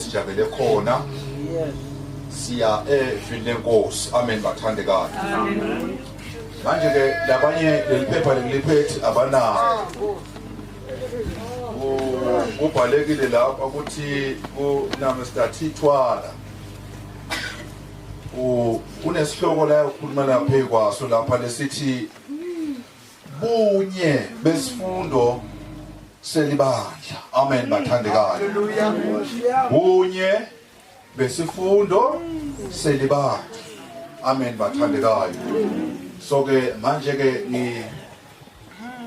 sijabele khona siya evini lenkosi amen bathandekayo manje ke labanye leli phepha leliphethi abanalo kubhalekile lapha ukuthi kunamestathithwala kunesihloko la ukhuluma laphe kwaso lapha lesithi bunye besifundo selibandla amen bathandekayo bunye besifundo selibandla amen bathandekayo so ke manje ke ni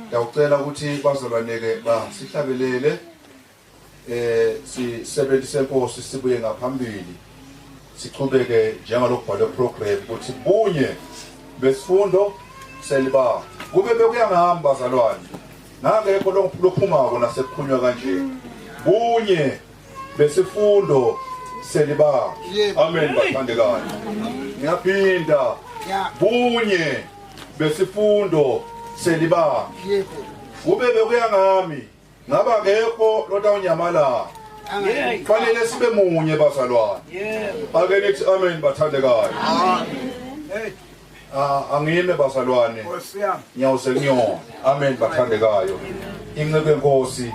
ngiyawucela ukuthi bazalwaneke basihlabelele eh sisebenzi senkosi sibuye ngaphambili sichubeke njengalokubhalwe program ukuthi bunye besifundo seliba kube bekuyangihamba zalwane nangekho lophumako nasekuphunywa kanje bunye besifundo seliba amen bathandekayo ngiyaphinda bunye besifundo seliba kube bekuyangami Ngaba akekho lotawunyamalala. Kufanele sibe munye bazalwane. Ake nithi amen bathandekayo. Amen. Ah, angime bazalwane ngiyawuze kuyona amen bathandekayo inceku enkosi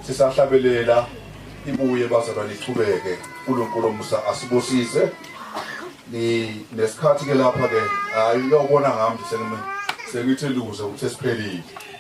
sisahlabelela ibuye bazalwane ichubeke uNkulunkulu omusa asibusise ni nesikhathi ke lapha ke hayi uyobona ngami sengime sengithi luze ukuthi siphelile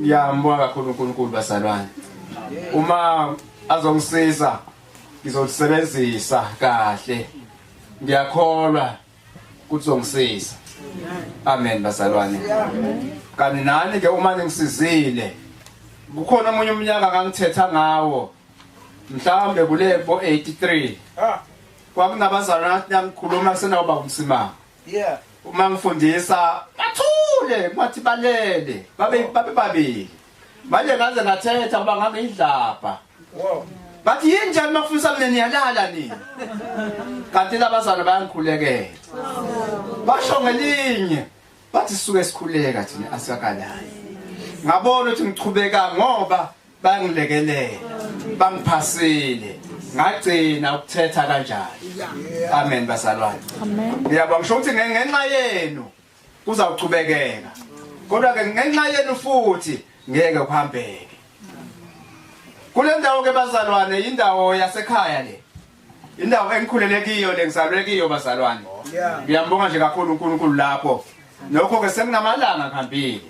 ngiyambonga kakhulu uNkulunkulu bazalwane uma azongisiza ngizosebenzisa kahle ngiyakholwa ukuthi uzongisiza amen bazalwane kanti nani ke uma ningisizile kukhona omunye umnyaka ngangithetha ngawo mhlawumbe kule bo 83 kwakunabazalwane nami khuluma senawuba umsimanga yeah uma ngifundisa bathule ngathi balele babe oh. babe babili manje ngaze ngathetha kuba ngangiyidlabha wow bathi yini njani makufisa mina niyalala nina kanti labazana bayangikhulekela basho ngelinye bathi suke sikhuleka thina asikakalali ngabona ukuthi ngichubeka ngoba bangilekelele bangiphasile ngagcina ukuthetha kanjani amen bazalwane uyabona ngisho ukuthi ngenxa yenu kuzawuqhubekeka kodwa ke ngenxa yenu futhi ngeke kuhambeke kule ndawo ke bazalwane indawo yasekhaya le indawo engikhulele kiyo le ngizalwe kiyo bazalwane ngiyambonga nje kakhulu uNkulunkulu lapho nokho ke senginamalanga ngihambile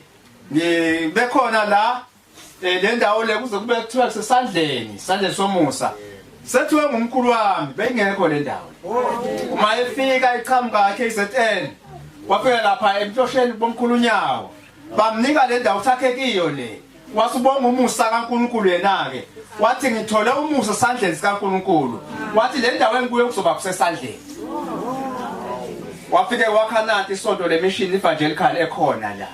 ngibekhona la Eh le ndawo le kuze kube kuthiwa kusesandleni, sandleni somusa. Sethiwe ngumkhulu wami, beyingekho le ndawo. Uma efika iqhamuka yakhe iZN, wafika lapha emhlosheni bomkhulu unyawo. Bamnika le ndawo sakhe kiyo le. Wasibonga umusa kaNkuluNkulu yena-ke. Wathi ngithole umusa esandleni sikaNkuluNkulu. Wathi le ndawo engikuyo kuzoba kusesandleni. wafike wakhanati isonto lemishini evangelical ekhona la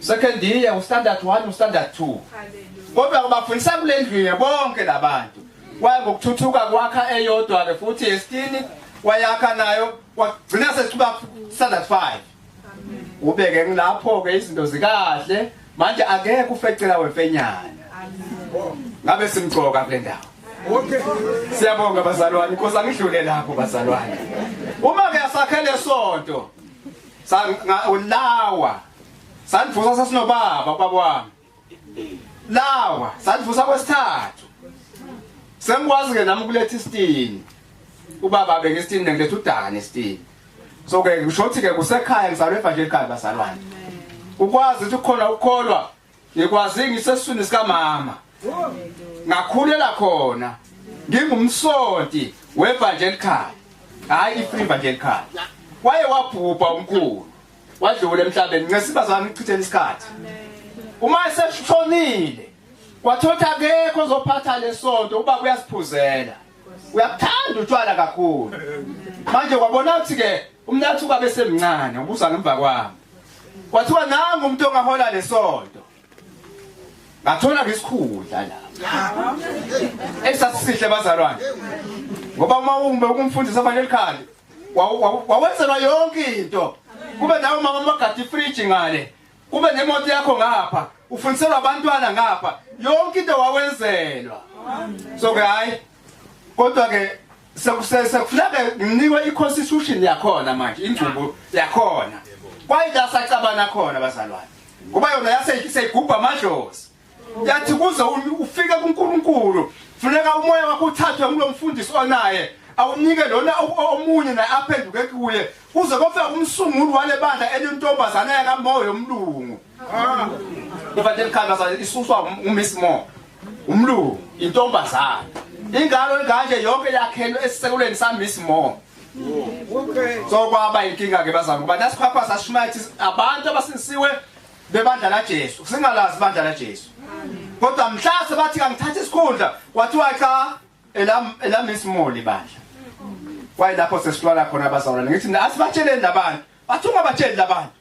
second year ustandard 1 ustandard 2 kodwa ubafundisa kule ndlu ye bonke labantu kwaye ngokuthuthuka kwakha eyodwa ke futhi yesitini wayakha nayo wagcina sesiba standard 5 ubeke ngilapho ke izinto zikahle manje akekho ufecela wemfenyana ngabe simgcoka kule ndawo okay siyabonga bazalwane inkosi angidlule lapho bazalwane uma ke asakhele sonto lawa sandivusa sasinobaba ubaba wami lawa sandivusa kwesithathu sengikwazi ke nami ukuletha isitini ubaba beke isitini nengiletha udane isitini so ke ngisho ukuthi ke kusekhaya ngizalwe evangelika ekhaya bazalwane ukwazi ukuthi ukhona ukholwa ngikwazi ngisesiswini sikamama ngakhulela khona ngingumsonti wevangelical hayi ifree evangelical waye wabhubha umkhulu wadlula emhlabeni ngesiba zami ngichithela isikhathi uma eseshonile kwathotha akekho ozophatha lesonto uba kuyasiphuzela uyakuthanda utshwala kakhulu manje kwabona ukuthi ke umnathuka besemncane ubuza ngemva kwami kwathiwa nangu umuntu ongahola lesonto ngathola ngesikhundla la esasisihle bazalwane ngoba uma umbe ukumfundisa fanele likhale wawenzelwa yonke into kube nawe mama magadi fridge ngale kube nemoto yakho ngapha ufundiselwa abantwana ngapha yonke into wawenzelwa so ke hayi kodwa ke sekusese kufuneka nginikwe iconstitution yakhona manje ingcubo yakhona kwaye la sacabana khona bazalwane ngoba yona yaseyigubha amadlozi yathi kuze ufike kuNkulunkulu funeka umoya wakho uthathwe ngulo mfundisi onaye awunike lona omunye naye aphenduke kuye kuze kofika umsunguli wale bandla elintombazana yakamoya omlungu Ivate likhangaza isuswa uMiss Moore. Umlungu intombazana. Ingalo enganje yonke yakhelwe esisekuleni sa Miss Moore. Okay. So kwaba inkinga ke bazama ngoba nasiphapha sashumaythi abantu abasinisiwe bebandla la Jesu. Singalazi ibandla la Jesu. Kodwa mhlase bathi kangithatha isikhundla kwathiwa cha elam elam Miss Moore libandla. Wayilapho sesitwala khona bazalwane ngithi asibatsheleni labantu. Bathi ungabatsheli labantu.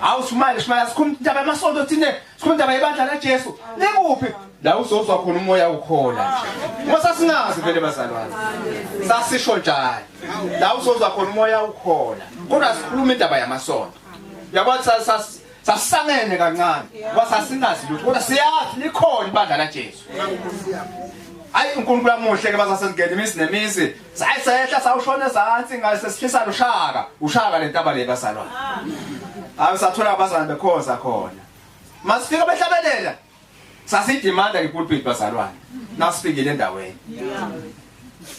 Hawu smile smile sikhuluma indaba yamasonto thina sikhuluma indaba yebandla laJesu. Nikuphi? La uzozwa khona umoya ukhola nje. Ngoba singazi vele bazalwane. Sasisho njalo. La uzozwa khona umoya ukhola. Kodwa sikhuluma indaba yamasonto. Yabona sas sasangene kancane. Ngoba sasingazi lutho kodwa siyazi likhona ibandla laJesu. Ayi uNkulunkulu amuhle ke bazasengene imizi nemizi Sayisehla sawushona ezansi ngase sihlisa lushaka, ushaka lentaba le bazalwane. Hayi sathola abazalwane bekhoza khona. Masifika behlabelela. Sasidimanda ngepulpit bazalwane. Nasifikile endaweni.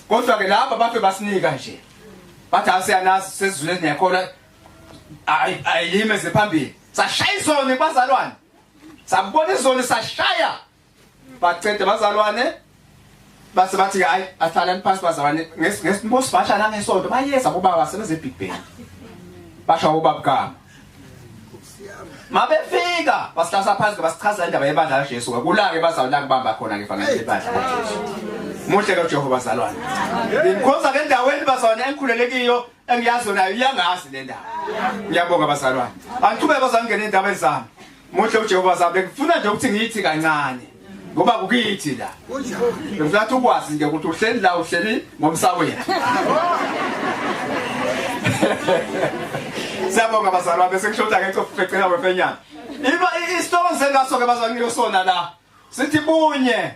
Kodwa ke laba bafe basinika nje. Bathi asiyanazi sezizwe nezikhola ayilime ziphambili. Sashaya izoni bazalwane. Sabona izoni sashaya. bacede bazalwane base bathi hayi athalani phansi bazalwane ngesibosibasha nangesonto bayeza bobaba sebeze big bang basha bobaba kama mabefika basihlasa phansi basichaza indaba yebandla laJesu kulake bazalwane kubamba khona ke fanele lebandla laJesu muhle ke uJehova bazalwane ngikhoza ke ndaweni bazalwane engikhulelekiyo engiyazi nayo iyangazi le ndawo ngiyabonga bazalwane angiqhubeke bazalwane ngene indaba ezami Muhle uJehova sabe ngifuna nje ukuthi ngithi kancane ngoba kukithi la. Ngifuna ukwazi nje ukuthi uhleli la uhleli ngomsawethu. Siyabonga bazalwa bese kushoda ke cofecela wefenyana. Iba isihloko sengaso ke bazalwa ngiyosona la. Sithi bunye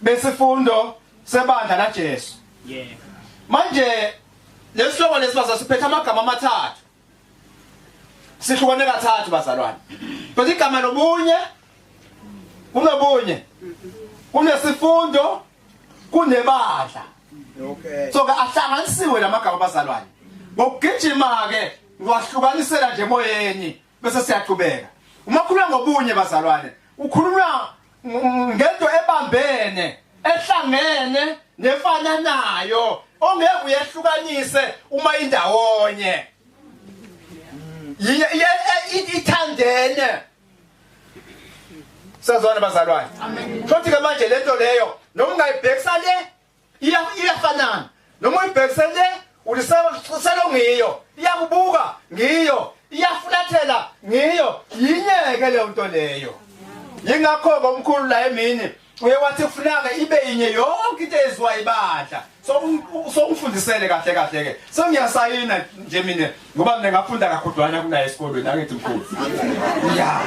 besifundo sebandla laJesu. Yebo. Manje lesihloko lesibasa siphethe amagama amathathu. sihlukane kathathu bazalwane but igama lobunye kunobunye kunesifundo kunebandla okay so ke ahlanganisiwe lamagama bazalwane ngokugijima ke ngiwahlukanisela nje emoyeni bese siyaqhubeka uma khuluma ngobunye bazalwane ukhuluma ngento ebambene ehlangene nefananayo ongeke uyehlukanise uma indawonye ithandene sazwana bazalwane futhi ke manje lento leyo noma ungayibhekisa le iya iyafanana noma uyibhekise le ulisekuselo ngiyo iyakubuka ngiyo iyafulathela ngiyo yinyeke leyo nto leyo yingakho-ke umkhulu la emini uye wathi kufunaka ibe yinye yonke into eziwa ibandla so ungifundisele kahle kahle-ke sengiyasayina nje mina ngoba mina ngafunda kakhudwana kunaye esikolweni angithi mkhulu ya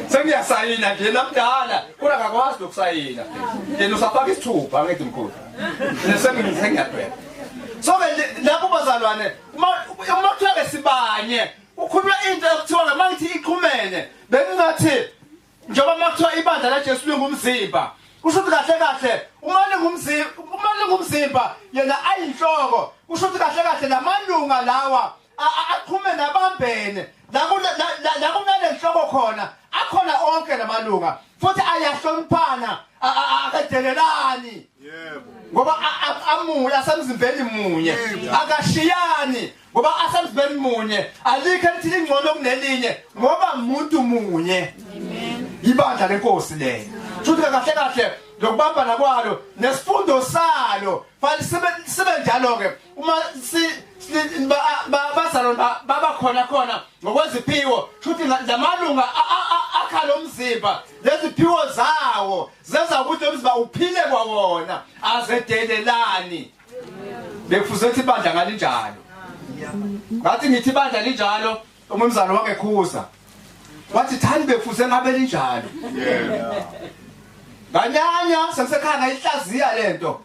sengiyasayina nje namdala kodwa ngakwazi nokusayina yena usafaka isithupha angithi mkhulu sengiyadweba so ke lapho bazalwane uma kuthiwa ke sibanye ukhuluma into ekuthiwa ke mangithi iqhumene bengingathi njengoba makuthiwa ibandla laJesu lingumzimba kusho ukuthi kahle kahle uma lingumzimba uma lingumzimba yena ayinhloko kusho ukuthi kahle kahle lamalunga lawa aqhume nabambene la kunale nhloko khona akhona onke lamalunga futhi ayahloniphana akadelelani yebo ngoba amunye asemzimbeni munye akashiyani ngoba asemzibeni munye alikho elithile ingcono kunelinye ngoba umuntu munye ibandla lenkosi leyo futhi kahle kahle lokubambana kwalo nesifundo salo fanele sibe sibe njalo ke uma si bazalwa baba khona khona ngokweziphiwo futhi lamalunga akhala umzimba leziphiwo zawo zenza ukuthi umzimba uphile kwawona azedelelani bekufuze ukuthi ibandla ngalinjalo ngathi ngithi ibandla linjalo umumzana wake khuza wathi thani bekufuze ngabe linjalo nganyanya sengisekhaya ngayihlaziya lento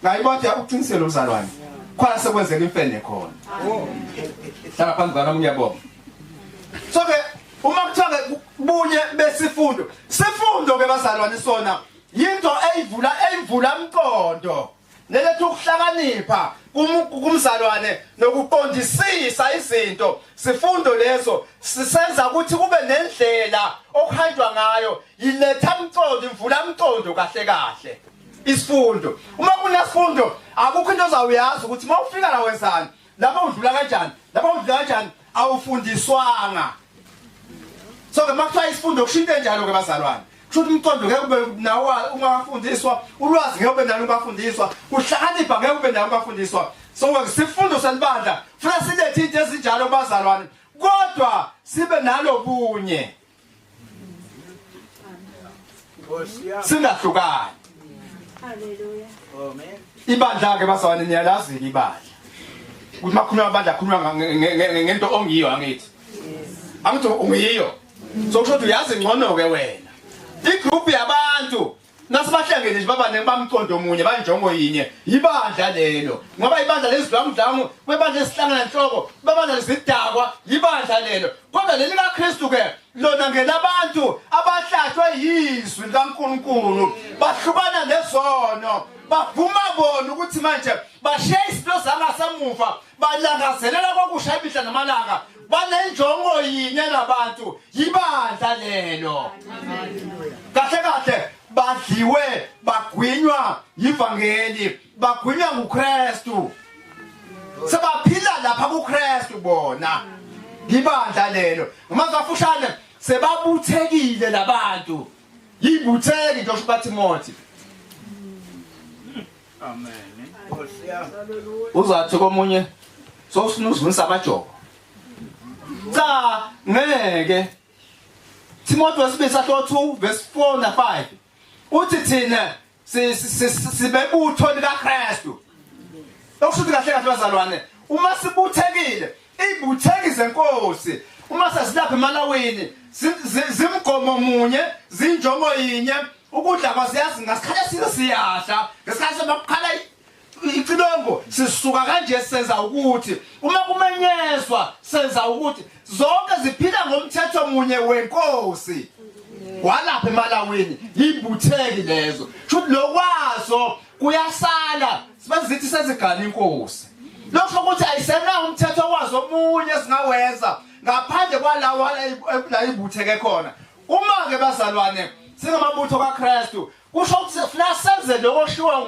ngayibona yakuqinisela umzalwane khona sekwenzeka imfene khona hlala phambi kwami ngiyabonga so ke uma kuthiwa bunye besifundo sifundo ke bazalwane sona yinto eyivula eyivula umqondo neletha ukuhlakanipha kumzalwane nokuqondisisa izinto sifundo leso sisenza ukuthi kube nendlela okuhanjwa ngayo yiletha mcondo imvula mcondo kahle kahle isifundo uma kunesifundo akukho into ozawuyazi ukuthi uma ufika la wenzani lapha udlula kanjani lapha udlula kanjani awufundiswanga so ke makuthiwa isifundo kushinto enjalo ke bazalwane kusho ukuthi umqondo ngeke ube nawo ungafundiswa ulwazi ngeke ube nalo ungafundiswa kuhlakanipha ngeke ube nalo ungafundiswa so ngesifundo selibandla funa silethe into ezinjalo bazalwane kodwa sibe nalo bunye singahlukani ibandla ke bazalwane niyalazi ke ibandla ukuthi makhuluma abandla akhuluma ngento ongiyo angithi angithi ungiyo so kusho ukuthi uyazi ngcono ke wena igroup yabantu Nasibahlangene nje babaningi bamqondo omunye banjongo yinye yibandla lelo ngoba ibandla lezidlamudlamu kwebandla esihlangana nhloko babandla lezidakwa yibandla lelo kodwa leli kaKristu ke lona ngelabantu abahlahlwe yizwi likaNkulunkulu bahlukana nezono bavuma bona ukuthi manje bashiya izinto zangasemuva balangazelela kwakusha imihla namalanga banenjongo yinye labantu yibandla lelo kahle kahle badliwe bagwinywa yivangeli bagwinywa nguKristu sebaphila lapha kuKristu bona yibandla lelo ngamazafushane sebabuthekile labantu yibutheki ngisho bathi mothi Amen. Uzathi komunye sofuna uzunisa amajoko. Cha ngeke. Timothy wesibili sahlo 2 verse 4 na 5. Uthi thina sibebutho likaKristu. Okushuthi kahle kahle bazalwane uma sibuthekile Ibutheki zenkosi uma sesilapha emalawini zimgomo munye zinjongo yinye ukudla kwasiyazi ngasikhathi esike siyadla ngesikhathi somakukhala icilongo sisuka kanje senza ukuthi uma kumenyezwa senza ukuthi zonke ziphila ngomthetho munye wenkosi walapha emalawini yibutheki lezo shuthi lokwazo kuyasala sibazithi sezigala inkosi lokho ukuthi ayisenawo umthetho wazo omunye singawenza ngaphandle kwalawo la ibutheke khona uma-ke bazalwane singamabutho kaKristu kusho ukuthi sifuna senze lokho shuwa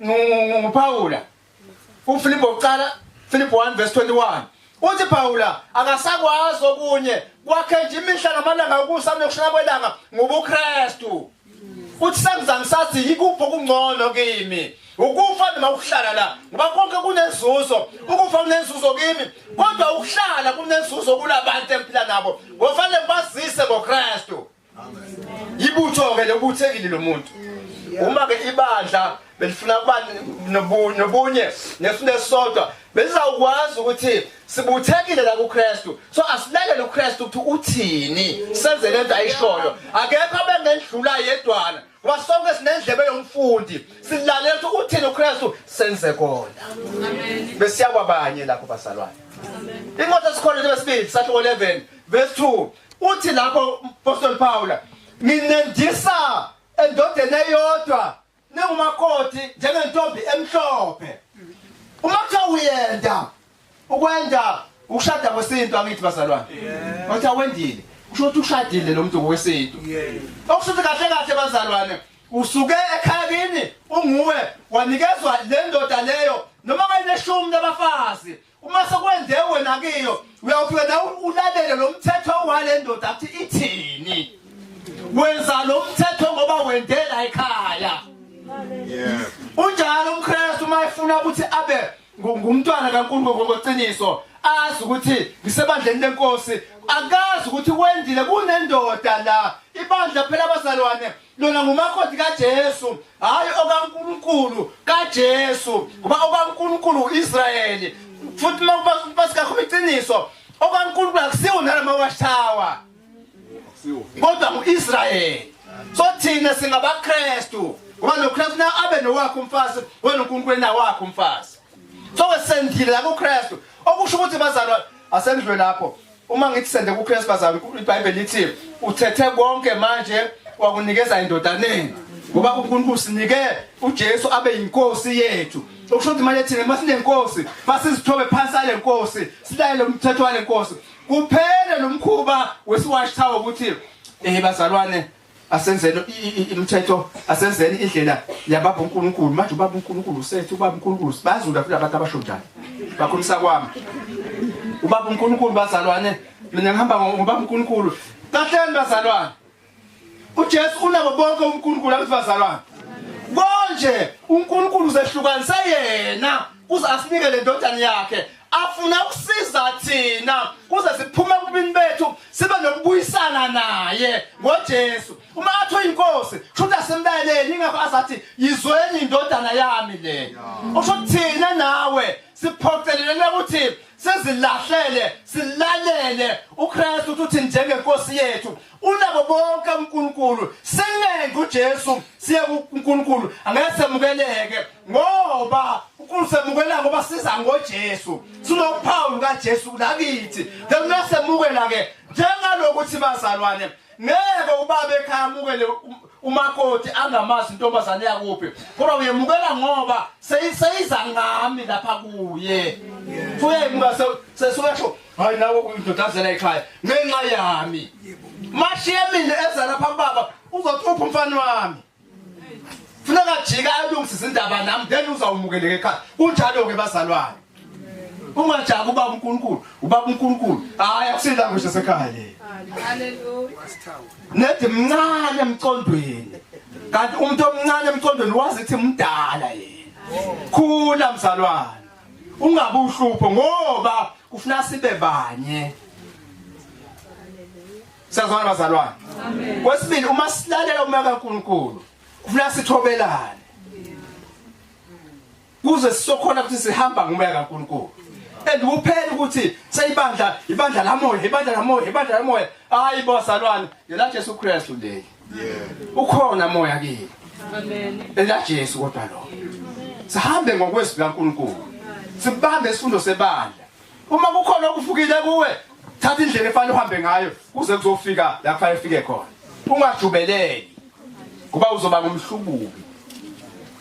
nguPawula uFilipo uqala Filipo 1 verse 21 uthi Pawula akasakwazi okunye kwakhe nje imihla namalanga ukusa nokushaya kwelanga ngobuKristu uthi sengizange sathi yikuphi okungcono kimi ukufa noma ukuhlala la ngoba konke kunenzuzo ukufa kunenzuzo kimi kodwa ukuhlala kunenzuzo kulabantu engiphila nabo ngofanele ngibazise ngokristu yibutho-ke lobuthekile lo muntu uma-ke ibandla belifuna ukuba nobu- nobunye ngesinto esisodwa belizawukwazi ukuthi sibuthekile la kuKristu so asilalele uKristu ukuthi uthini senze lento ayishoyo akekho abengendlula yedwana ngoba sonke sinendlebe yomfundi silalele ukuthi uthini uKristu senze kona besiya kwabanye lapho bazalwane incwadi esikhona lesibili sahluko 11 verse 2 uthi lapho umpostoli Pawula nginendisa endodeni eyodwa nengumakoti njengentombi emhlophe uma kuthiwa uyenda ukwenda ukushada kwesintu angithi bazalwane wathi awendile kusho ukuthi ushadile lo muntu ngokwesintu okusho ukuthi kahle kahle bazalwane usuke ekhaya kini unguwe wanikezwa le ndoda leyo noma kayineshumi labafazi uma sekwenze wena kiyo uyawufika nawe ulalele lo mthetho wale ndoda athi ithini wenza lo mthetho ngoba wendela ekhaya unjalo umkristu uma efuna ukuthi abe ngumntwana kankulunkulu ngokweciniso azi ukuthi ngisebandleni lenkosi akazi ukuthi wendile kunendoda la ibandla phela abazalwane Lona ngumakoti kaJesu, hayi okaNkulunkulu kaJesu, ngoba okaNkulunkulu uIsrayeli. Futhi makuba basikakhuluma iqiniso, okaNkulunkulu akusiwo nalama washawa. Akusiwo. Kodwa nguIsrayeli. So thina singabaKristu, ngoba noKristu na abe nowakhe umfazi, wena uNkulunkulu enawakhe umfazi. So sendile la kuKristu, okusho ukuthi bazalwa asendlwe lapho. Uma ngithi sende kuKristu bazami iBhayibheli lithi uthethe konke manje wakunikeza indodaneni ngoba uNkulunkulu sinike uJesu abe yinkosi yethu okusho ukuthi manje thina masinenkosi masizithobe phansi ale nkosi silayele umthetho wale nkosi kuphele lo mkhuba wesiwatch tower ukuthi eh bazalwane asenzeni imithetho asenzeni indlela yababa uNkulunkulu manje ubaba uNkulunkulu usethu ubaba uNkulunkulu bazula futhi abantu abasho njalo bakhulisa kwami ubaba uNkulunkulu bazalwane mina ngihamba ngobaba uNkulunkulu kahleni bazalwane uJesu unabo bonke uNkulunkulu abathi bazalwane konje uNkulunkulu uzehlukanise yena kuze asinike le ndodana yakhe afuna ukusiza thina kuze siphume kubini bethu sibe nokubuyisana naye ngoJesu uma athi uyinkosi kushuthi asemlaleli ingakho asathi yizweni indodana yami le usho thina nawe siphoqelelele ukuthi sizilahlele silalele uKristu uthi njengenkosi yethu unabo bonke uNkulunkulu sengenze uJesu siye kuNkulunkulu angeke semukeleke ngoba uNkulunkulu semukela ngoba siza ngoJesu sinophawu kaJesu la kithi njengoba semukela ke njengalokuthi bazalwane ngeke ubaba ekhaya amukele umakoti angamazi intombazane yakuphi kodwa uyemukela ngoba seyiza ngami lapha kuye uyemuka sesuyasho hayi nawe uyidodazela ekhaya ngenxa yami mashiye mina eza lapha baba uzothupha umfana wami funeka jika alungise izindaba nami then uzawumukeleka ekhaya kunjalo-ke bazalwane ungajaki ubaba unkulunkulu ubaba unkulunkulu hhayi akusilango nje sekhaya le nedi mncane emcondweni kanti umuntu omncane emcondweni wazi ithi mdala yena khula mzalwane ungabe uhlupho ngoba kufuna sibe banye sazwana bazalwane kwesibili uma silalela umoya kaNkuluNkulu kufuna sithobelane kuze sisokhona ukuthi sihamba ngomoya kaNkuluNkulu and kuphela ukuthi seyibandla ibandla lamoya ibandla lamoya ibandla lamoya hayi bazalwane ngela Jesu Kristu leli ukhona moya kini amen ela Jesu kodwa lo sihambe ngokwezwi laNkulunkulu sibambe isifundo sebandla uma kukhona okufukile kuwe thatha indlela efanele uhambe ngayo kuze kuzofika la kufanele ufike khona ungajubeleli kuba uzoba ngumhlubuki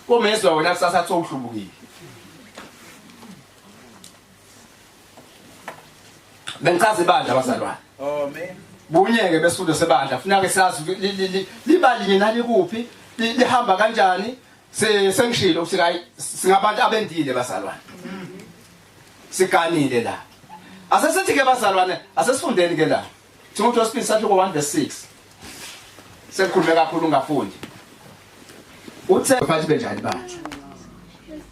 komezwa wena kusasa athi uhlubukile bengichaza ibandla abazalwane oh man bunyeke besudo sebandla funa ke sazi libalinye nani kuphi lihamba kanjani sengishilo ukuthi hayi singabantu abendile bazalwane siganile la asesithi ke bazalwane asesifundeni ke la Timothy wesibili sahluko 1 verse 6 sekukhulume kakhulu ungafundi uthe bathi benjani bantu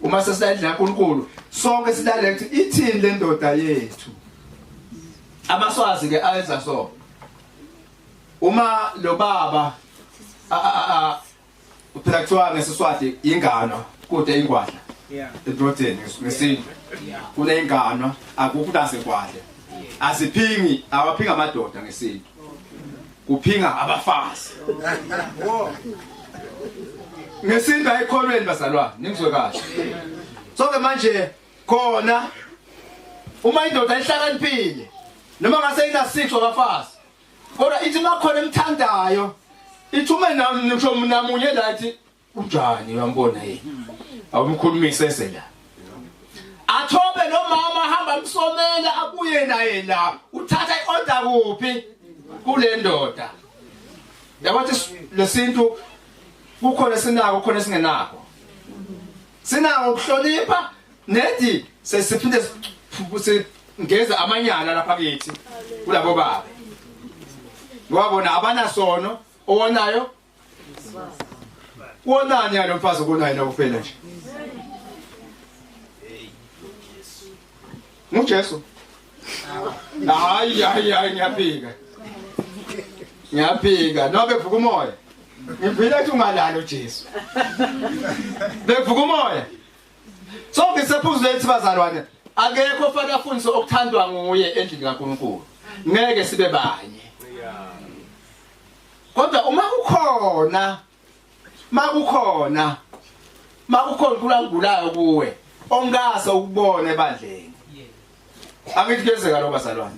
uma sesilalela uNkulunkulu sonke silalela ukuthi ithini le ndoda yethu amaswazi ke ayenza so uma lo baba Uphela kuthiwa ngesiswati ingano kude ingwadla. Yeah. Ebrodeni ngesintu. Kune ingano akukho nase ngwadla. Asiphingi awaphinga amadoda ngesintu. Kuphinga abafazi. Ngesintu ayikholweni bazalwane ningizwe kahle. So ke manje khona uma indoda ihlakaniphile noma ngase ina 6 wabafazi kodwa ithi makhona emthandayo ithi uma ngisho mina munye la ithi unjani uyambona yini awumkhulumise ese la athobe nomama hamba msomela abuye naye la uthatha iorder kuphi kule ndoda yabathi lesintu kukhona sinako kukhona singenako sinako ukuhlonipha Nethi sesiphinde singeza amanyala lapha kithi kulabo baba. Wabona abanasono owonayo wonani yalo mfazi okonayo na kuphela nje nguJesu hayi hayi hayi ngiyaphika ngiyaphika nobe vuka umoya ngiphila ukuthi ungalalo Jesu bevuka umoya Sonke sephuzu lethi bazalwane akekho ofana afundise okuthandwa nguye endlini kaNkulunkulu. Ngeke sibe banye. Kodwa uma kukhona makukhona makukhona kulangulayo kuwe ongase ukubone ebandleni. Angithi kuyenzeka lo bazalwane.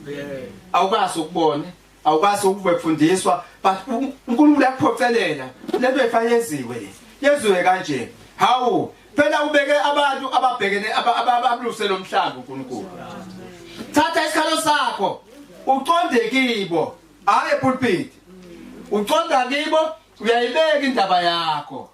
Awukase ukubone. awukwazi ukufundiswa but uNkulunkulu uyakuphocelela lento efanyeziwe le yeziwe kanje hawu phela ubeke abantu ababhekene ababuluse lomhlaba uNkulunkulu thatha isikhalo sakho uqonde kibo hayi epulpit uqonda kibo uyayibeka indaba yakho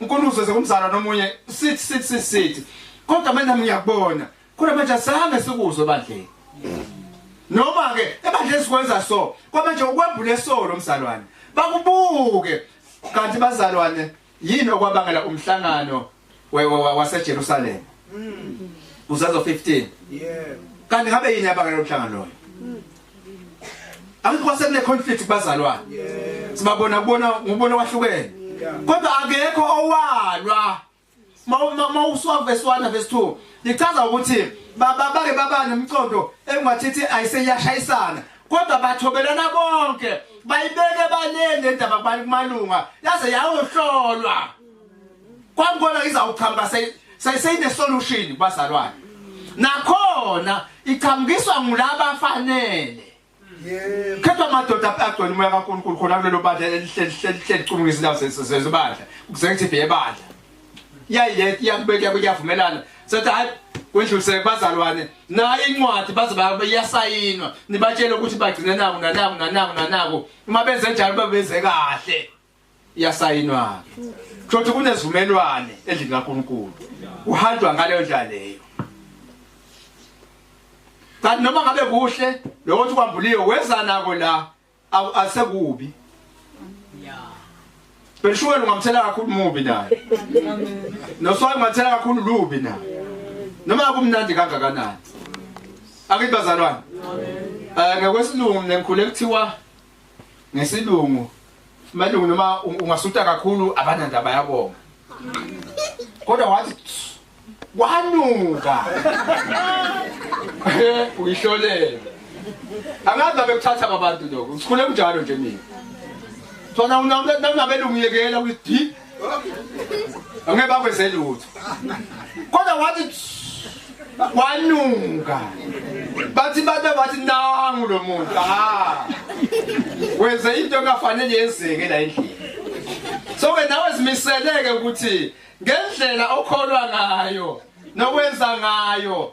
uNkulunkulu uzoze kumzala nomunye sithi sithi sithi kodwa mina ngiyakubona kodwa manje asange sikuzwe bandleni noma ke ebandleni sikwenza so kwamanje ukwembule solo mzalwane bakubuke kanti bazalwane yini okwabangela umhlangano waseJerusalem uzazo 15 yeah kanti ngabe yini yabangela umhlangano loyo angikho sekune conflict kubazalwane sibabona kubona ngubona wahlukene kodwa akekho owalwa uma uswa verse 1 verse 2 lichaza ukuthi baba bake baba nemcondo engathithi ayiseyashayisana kodwa bathobelana bonke bayibeke baleni indaba kubani kumalunga yaze yayohlolwa kwangibona izawuchamba seyine solution bazalwane nakhona ichambiswa ngulaba fanele khetha amadoda agcwele umoya kaNkulunkulu khona kulelo bandla elihlelihlelihlelichumula izindawo zezibandla executive yebandla yayileti yakubeka kuyavumelana sathi hayi kwendluliseke bazalwane nayo incwadi bazoba iyasayinwa nibatshele ukuthi bagcine naku nanaku nanaku nanaku uma benze njalo babenze kahle iyasayinwa ke kusho ukuthi kunezivumelwane endlini kaNkulunkulu uhanjwa ngaleyo ndlela leyo kanti noma ngabe kuhle lokho ukuthi kwambuliwe weza nako la asekubi Beshukela ungamthela kakhulu mubi naye. Noswayi ungathela kakhulu lubi naye. Noma kumnandi kangakanani. Akibazalwane. Amen. Eh ngekwesilungu ngikhule kuthiwa ngesilungu malungu noma ungasuta kakhulu abanandaba yabonga kodwa wathi kwanuka eh, uyihlolela angazi ngabe kuthatha abantu lokho ngikhule kunjalo nje mina sona unabelungiyekela ukuthi angeke bakwenze lutho kodwa wathi kwanuka bathi babe bathi nangu lo muntu ha wenze into engafanele yenzeke la endlini so ke nawe zimiseleke ukuthi ngendlela okholwa ngayo nokwenza ngayo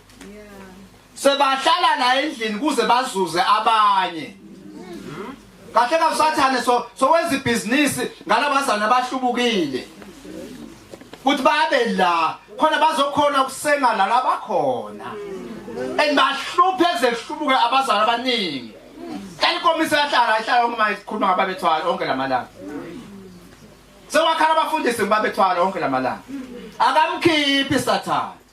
sebahlala la endlini kuze bazuze abanye kahle ka usathane so sowenza ibhizinisi ngalabazana abahlubukile ukuthi babe la khona bazokhona ukusenga la labakhona and bahluphe ezehlubuke abazali abaningi kanikomise yahlala ihlala uma ikhuluma ngababethwala onke lamalanga sewakhala abafundisi ngibabethwala onke lamalanga akamkhiphi sathane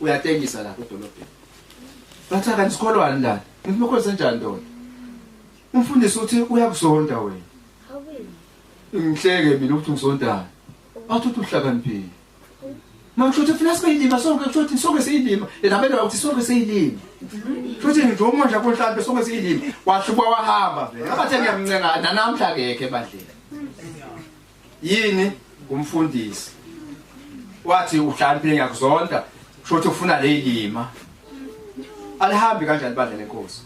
uyatengisa lapha edolobheni bathi akanti sikholwani la ngithi mekho senjani ndoda umfundisi uthi uyakusonta wena ngihleke mina ukuthi ngisontayo bathi uthi uhlakaniphile makusho ukuthi funa sibe yilima sonke kusho ukuthi sonke siyilima yena benda ukuthi sonke siyilima kusho ukuthi nje umondla konhlampe sonke siyilima wahluba wahamba vele abathe ngiyamncenga nanamhla kekhe badlela yini kumfundisi wathi uhlakaniphe ngiyakuzonda kusho ukuthi ufuna leyilima alihambi kanjani ibandla lenkosi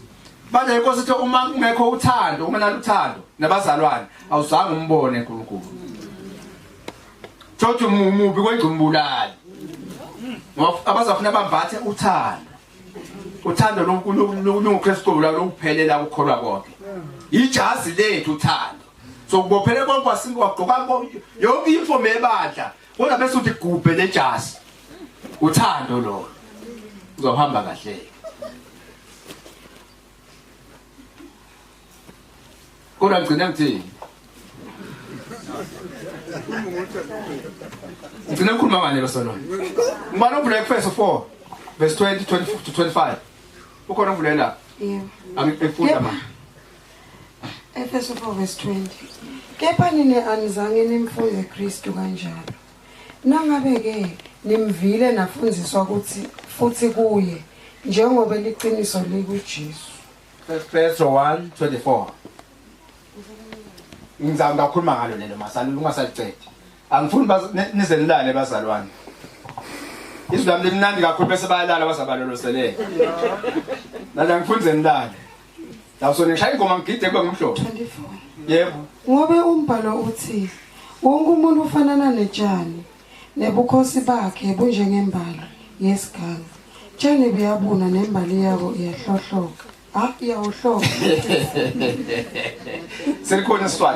bandla lenkosi ithi uma kungekho uthando uma naluthando nabazalwane awuzange umbone uNkulunkulu thothi umubi kwengcumbulali abazafuna bambathe uthando uthando loNkulunkulu lokuKristu lokuphelela ukukholwa konke ijazi lethu uthando sokubophele konke wasinke wagqoka yonke imfomo ebandla kodwa bese uthi gubhe nejasi uthando lo uzohamba kahle kodwa ngigcina ngithini ngigcina ngikhuluma ngani lo solona ngibana uvula efeso 4 verse 20 24 to 25 ukhona uvule la angifunda manje Efeso 4 verse 20 kepha nina anizange nimfunde Kristu kanjalo nangabe ke nimvile nafundziswa ukuthi futhi kuye njengoba liqiniso likuJesu Efeso 1:24 Ngizama ngakhuluma ngalo lelo masalulu ungasalicethi angifuni nize nilale bazalwane izwi lami limnandi kakhulu bese bayalala bazabaloloselele nala ngifuni ze nilale lapho nishaya ingoma ngigide kube ngumhlobo 24 yebo ngobe umbhalo uthi wonke umuntu ufanana netshani nebukhosi bakhe bunjengembali yesiganga tshani buyabuna nembali yabo iyahlohloka ha iyawuhloka selikhona isiswati